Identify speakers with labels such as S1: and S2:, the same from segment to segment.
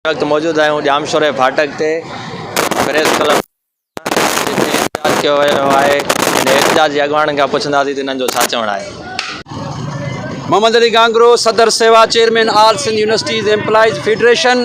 S1: هن وقت موجود آهيون ڄام شوري ڦاٽڪ تي پريس ڪلب جتي احتجاج ڪيو ويو آهي ۽ احتجاج جي اڳواڻن کان پڇنداسين ته انهن جو ڇا چوڻ آهي.
S2: محمد علي گانگرو صدر سيوا chairman all Sindh universities employees federation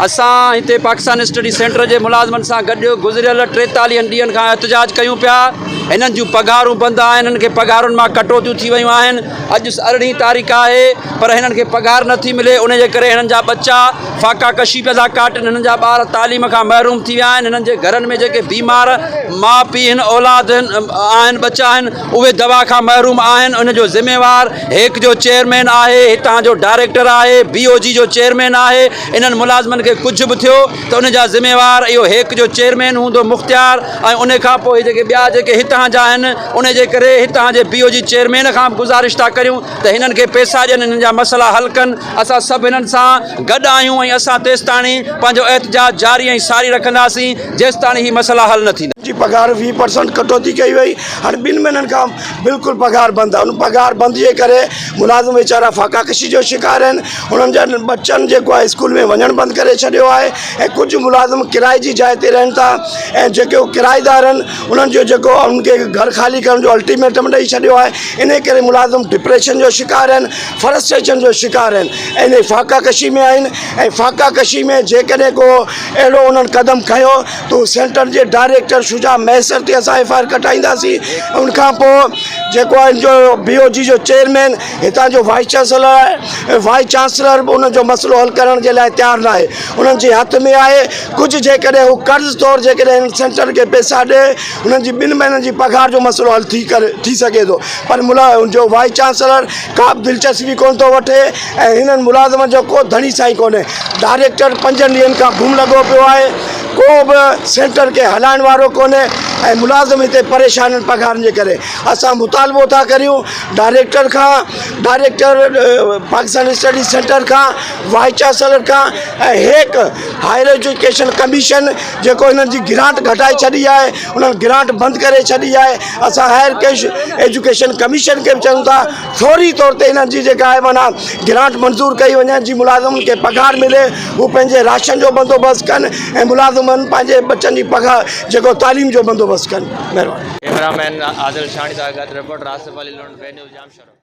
S2: اسان هتي پاڪستان اسٽڊي سينٽر جي ملازمن سان گڏ گذريل ٽيتاليهن ڏينهن کان احتجاج ڪيون پيا هنن جون پگهارون بند آهن هنن کي پگهارن مان ڪٽوتيون ٿي ويون آهن اڄ ارڙهين تاريخ آهي پر هنن کي پگهار نه ٿي ملي، انهي جي ڪري هنن جا ٻچا فاقا ڪشي پيا ٿا ڪاٽن، هنن جا ٻار تعليم کان محروم ٿي ويا آهن، هنن جي گهرن ۾ جيڪي بيمار ماء پيء هن اولاد آهن ٻچا هن اهي دوا کان محروم آهن، ان جو ذميوار هيڪ جو چيئرمين آهي، هتان جو ڊائريڪٽر آهي، بي او جي جو چيئرمين آهي، انهن ملازمن کي ڪجهه به ٿيو ته ان جا ذميوار اهو هيڪ جو چيئرمين هوندو مختيار ۽ انهي کان پوء جيڪي ٻيا جيڪي هتان جا آهن، انهي جي ڪري هتان جي بي او جي چيئرمين کان به گذارش ٿا ڪريون. ته هنن کي پيسا ڏين هنن جا مسئلا حل ڪن اسان سڀ هنن سان گڏ آهيون ۽ اسان تيستاڻي پنهنجو احتجاج جاري ۽ ساري رکنداسين جيستاڻي هي مسئلا حل نه ٿيندا. جي پگهار ويهه پرسنٽ
S3: ڪٽوتي ڪئي وئي هاڻي ٻن مهينن کان بلڪل پگهار بند آهي ان پگهار بند جي ڪري ملازم ويچارا فاقا ڪشي جو شڪار آهن انهن جا ٻچن جيڪو آهي اسڪول ۾ وڃڻ بند ڪري ڇڏيو آهي ۽ ڪجهه ملازم ڪرائي جي جاء تي رهن ٿا ۽ جيڪو ڪرائيدار آهن انهن جو جيڪو انهن کي گهر خالي ڪرڻ جو الٽيميٽم ڏئي ڇڏيو آهي انهيء ڪري ملازم ڊپريشن جو شڪار آهن، فرسٽريشن جو شڪار آهن ۽ انهيء فاقه ڪشي ۾ آهن ۽ فاقه ڪشي ۾ جيڪڏهن ڪو اهڙو انهن قدم کنيو ته هو سينٽر جي ڊائريڪٽر شجاع مهيسر تي اسان ايف آء آر ڪٽائينداسين ۽ ان کان پوء جيڪو هن جو بي او جي جو چيئرمين هتان جو وائيس چانسلر آهي ۽ وائيس چانسلر به ان جو مسئلو حل ڪرڻ جي لاء تيار ناهي انهن جي هٿ ۾ آهي ڪجهه جيڪڏهن هو قرض طور جيڪڏهن هن سينٽر کي پئسا ڏئي هنن جي ٻن مهينن جي پگهار جو مسئلو حل ٿي ڪري ٿي سگهي ٿو پر ملا جو وائيس چانسلر ڪا به دلچسپي ڪونه ٿو وٺي ۽ هنن ملازمن جو ڪو ڌڻي سائين ڪونهي ڊائريڪٽر پنجن ڏينهن کان گم لڳو پيو آهي ڪو به سينٽر کي هلائڻ وارو ڪونهي ۽ ملازم هتي پريشان آهن پگهارن جي ڪري اسان مطالبو ٿا ڪريون ڊائريڪٽر کان ڊائريڪٽر پاڪستان اسٽڊي سينٽر کان وائيس چانسلر کان ۽ هيڪ هائير ايجوڪيشن ڪميشن جيڪو هنن جي گرانٽ گهٽائي ڇڏي آهي انهن گرانٽ بند ڪري ڇڏي آهي اسان هائير ايجوڪيشن ڪميشن کي به چيون ٿا فوري طور تي هنن جي جيڪا آهي معنيٰ گرانٽ منظور ڪئي وڃي جي ملازمن کي پگهار ملي هو پنهنجي راشن جو بندوبست ڪن ۽ ملازمن پنهنجي ٻچن جي پگهار جيڪو تعليم جو بندوبست ڪن
S1: مهرباني
S3: ڪيمرا
S1: مين عادل شاڻي سان گڏ reporter Asif Ali Lund, V news, Jamshoro.